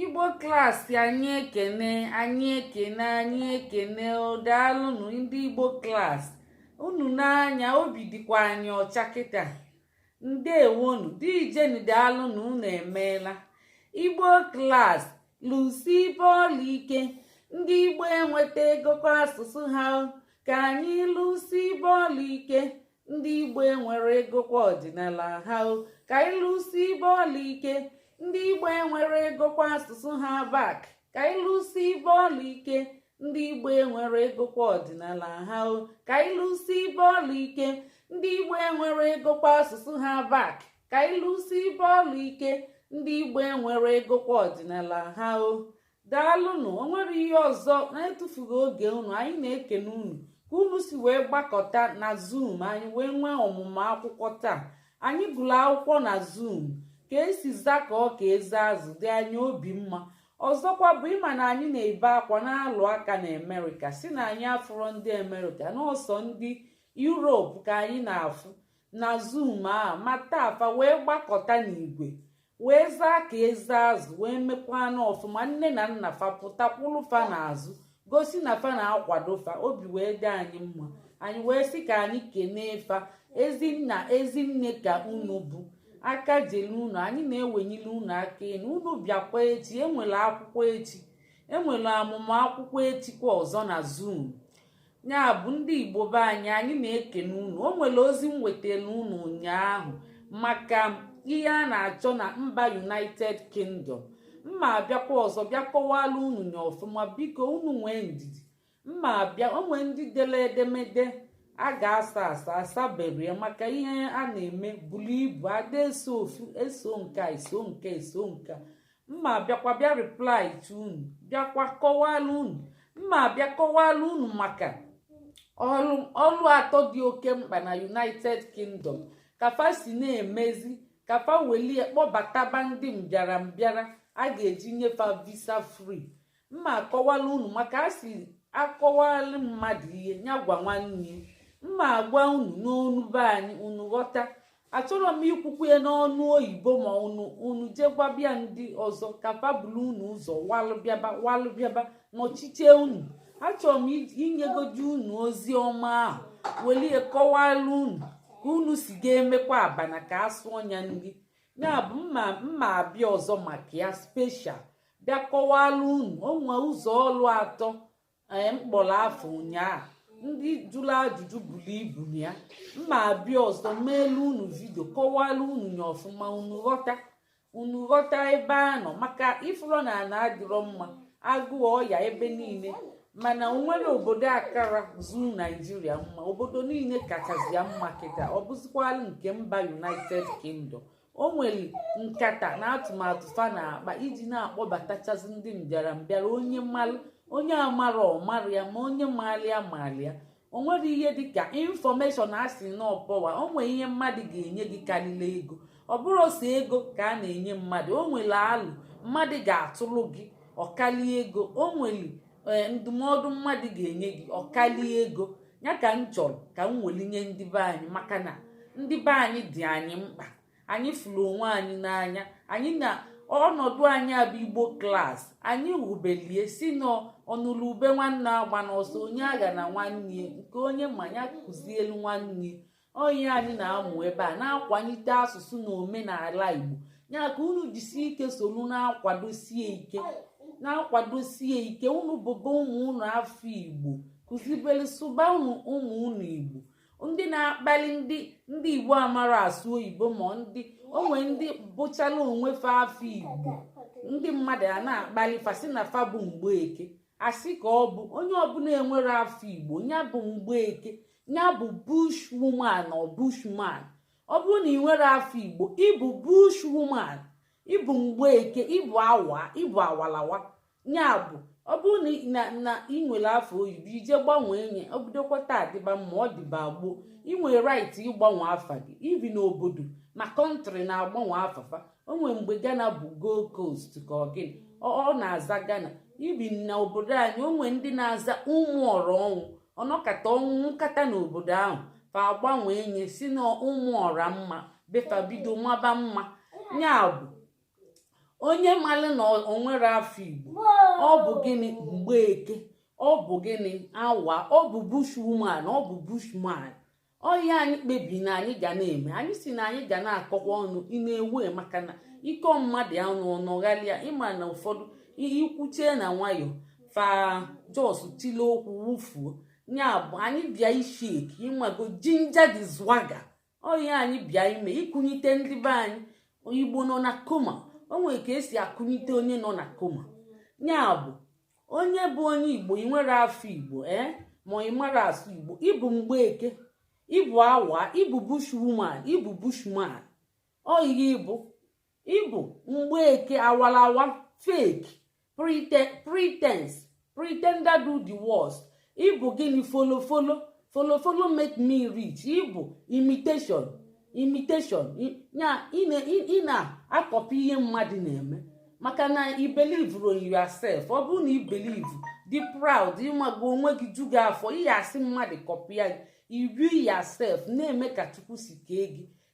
igbo klaasị anyị ekene anyị ekene anyị ekene daalụnụ ndị igbo klaasị unu n'anya obi dịkwa anyị ọcha kịta ndewonu deejeni daalụnụ unu emeela igbo klaasị lụsibe ọlụ ike ndị igbo enwetagokwa asụsụ ha ka anyị lụsibe ọlụ ike ndị igbo enweregokwa ọdịnala ha ka anyị lụsibe ọlụ ike ndị igbo enweregokwa asụsụ ha back ka anyị lụsibe ọlụ ike ndị igbo enweregokwa ọdịnala ha ka anyị lụsibe ọlụ ike ndị igbo enweregokwa asụsụ ha back ka anyị lụsibe ọlụ ike ndị igbo enweregokwa ọdịnala ha o daalụnụ o nwere ihe ọzọ na etufughị oge unu anyị na-ekene unu ka unu si wee gbakọta na zoom anyị wee nwee ọmụmụ akwụkwọ taa anyị gụrụ akwụkwọ na zoom ka e si zakọọ ka eze azụ dị anyị obi mma ọzọkwa bụ ị ma na anyị na-ebe akwa na-alụ aka na amerịka sị na anyị afụrọ ndị amerịka na ọ sọ ndị yurop ka anyị na-afụ na zoom a ma taa fa wee gbakọta n'igwe wee zaa ka eze azụ wee mekwa na ọfụma nne na nna fa pụta kwụrụ fa n'azụ gosi na fa na-akwado fa obi wee dị anyị mma anyị wee sị ka anyị kenee fa ezi nna ezi nne ka unu bụ aka jelu unu anyị na-ewenyere unu aka enu unu bịakwa echi e nwere akwụkwọ echi e nwere ọmụmụ akwụkwọ echi kwa ọzọ na zoom ya bụ ndị igbo be anyị anyị na-ekene unu o nwere ozi m wetara unu ụnyaahụ maka ihe a na-achọ na mba united kingdom mma abịakwa ọzọ bịa kọwara unu nya ọfụma biko unu nwee ndidi mma abịa o nwere ndị dere edemede a ga-asa asa asaberọ ya maka ihe a na-eme buru ibu ada eso ofu eso nke eso nke eso nke mma abịakwa bịa reply to unu bịakwa kọwara unu mma abịa kọwara unu maka ọlụ atọ dị oke mkpa na united kingdom ka fa si na-emezi ka fa welu kpọbataba ndị mbịara mbịara a ga-eji nye fa visa free mma akọwalụ unu maka a sị akọwalụ mmadụ ihe ya gwa nwanne mma agwa unu n'onu be anyị unu ghọta achọrọ m ikwukwa ya n'onu oyibo ma unu unu jegbabịa ndị ọzọ ka fa bulu unu ụzọ walụ bịaba walụ bịaba nọchichie unu achọrọ m inyegodu unu ozi ọma ahụ welu ya kọwara unu ka unu si ga-emekwa abana ka asụ ọnya nri ya bụ mma mma abịa ọzọ maka ya special bịa kọwara unu o nwe ụzọ ọrụ atọ anyị eh, m kpọrọ afa ụnyaahụ ndị jụrụ ajụjụ buru ibu nya m ma-abịa ọzọ meelu unu video kọwara unu nye ọfụma unu ghọta unu ghọta ebe a nọ maka ị fụrọ na ana adịrọ mma agụụ ọya ebe niile mana o nwere obodo akarọzị naijiria mma obodo niile kachazị ya mma kịta ọ bụzikwala nke mba united kingdom o nwere nkata na atụmatụ fa na-akpa iji na-akpọbatachazị ndị mbịara mbịara onye malụ onye amarọ ọ marọ ya ma onye maalụ ya maalụ ya o nwere ihe dịka information a sị na ọ power o nwere ihe mmadụ ga-enye gị karịrị ego ọ bụrọ sọ ego ka a na-enye mmadụ o nwere alo mmadụ ga-atụrụ gị ọ kalịa ego o nwere ee ndụmọdụ mmadụ ga-enye gị ọ kalịa ego ya ka m chọrọ ka m weli nye ndị be anyị maka na ndị be anyị dị anyị mkpa anyị fụrụ onwe anyị n'anya anyị na ọnọdụ anyị a bụ igbo class anyị wubeli ya sị na ọnụlụ ube nwanne agbana ọsọ onye aghana nwanne ya nke onye ma nya kụzielu nwanne ọ nya anyị na-amụ ebe a na-akwalite asụsụ na omenala Igbo ya ka unu jisie ike soro na-akwadosie ike na-akwadosie ike unu bụba ụmụ unu afa Igbo kụzibelu sụbalụ ụmụ unu Igbo ndị na-akpali ndị ndị Igbo amarọ asụ oyibo ma ndị onwe ndị bụchala onwe fa afa Igbo ndị mmadụ a na-akpali fa sị na fa bụ mgbeke a sị ka ọ bụ onye ọbụna enwerọ afa Igbo ya bụ mgbeke ya bụ bush woman ọ bushman ọ bụrụ na ị nwerọ afa igbo ị bụ bush woman ị bụ mgbeke ị bụ awa ị bụ awalawa ya bụ ọ bụrụ na na ị nwere afa oyibo i jee gbanwee nye o bidokwa taa dịba mma ọ dịba gboo ị nwere right ịgbanwe afa gị even obodo ma country na-agbanwe afa fa o nwere mgbe Ghana bụ Gold Coast ka ọ gịnị ọ na-aza Ghana even na obodo anyị o nwe ndị na-aza ụmụọra ọnwụ ọ nọkata ọnwụ nwụkata n'obodo ahụ fa agbanwee nye sị na ọ ụmụọra mma be fa bido maba mma ya bụ onye malụ na o nwerọ afa igbo ọ bụ gịnị mgbeke ọ bụ gịnị awa ọ bụ bushwoman ọ bụ bushman ọ ya anyị kpebiri na anyị ga na-eme anyị sị na anyị ga na-akọkwa ọnụ ị na-ewe maka na ị kọọ mmadụ ya ọnụ ọ nọghalịa ị ma na ụfọdụ ihe i kwuchaa na nwayọ fa just tile okwu wufuo ya bụ anyị bịa ịshake ị mago ginger the swagger ọ ya anyị bịa ime ịkụnyite ndị be anyị igbo nọ na coma o nwere ka esi akụnyite onye nọ na coma ya bụ onye bụ onye igbo ị nwere afọ igbo ee eh? ma ị mara asụ igbo ị bụ mgbeke ị bụ awa ị bụ bushwoman ị bụ bushman oyighị ị bụ ị bụ mgbeke awalawa fake pretense pretender do the worst ị bụ gịnị follow follow follow follow make me rich ị bụ imitation imitation ya ị na-akọpị ihe mmadụ na-eme maka na i believerọ yourself ọ bụrụ na i believe dị proud ị mago onwe gị ju gị afọ ị ya-asị mmadụ kọpịa gị iru yourself na-eme ka chukwu si kee gị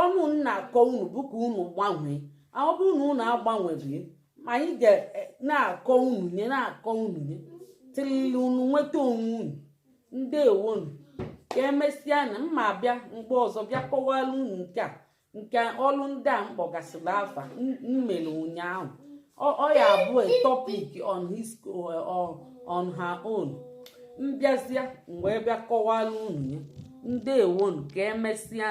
ọnụ m na-akọ unu bụ ka unu gbanwee ọ bụrụ na unu agbanweghị ma anyị ga e, na-akọ unu ya na-akọ unu ya tilili unu nweta onwe unu ndewonu ka emesịa na m ma-abịa mgbe ọzọ bịa kọwara unu nke a nke ọlụ ndị a m kpọgasịrị afa mmere ụnyaahụ ọ ya-abụ a topic on his uh, on her own m bịazịa mgbe bịa kọwara unu ya ndewonu ka emesịa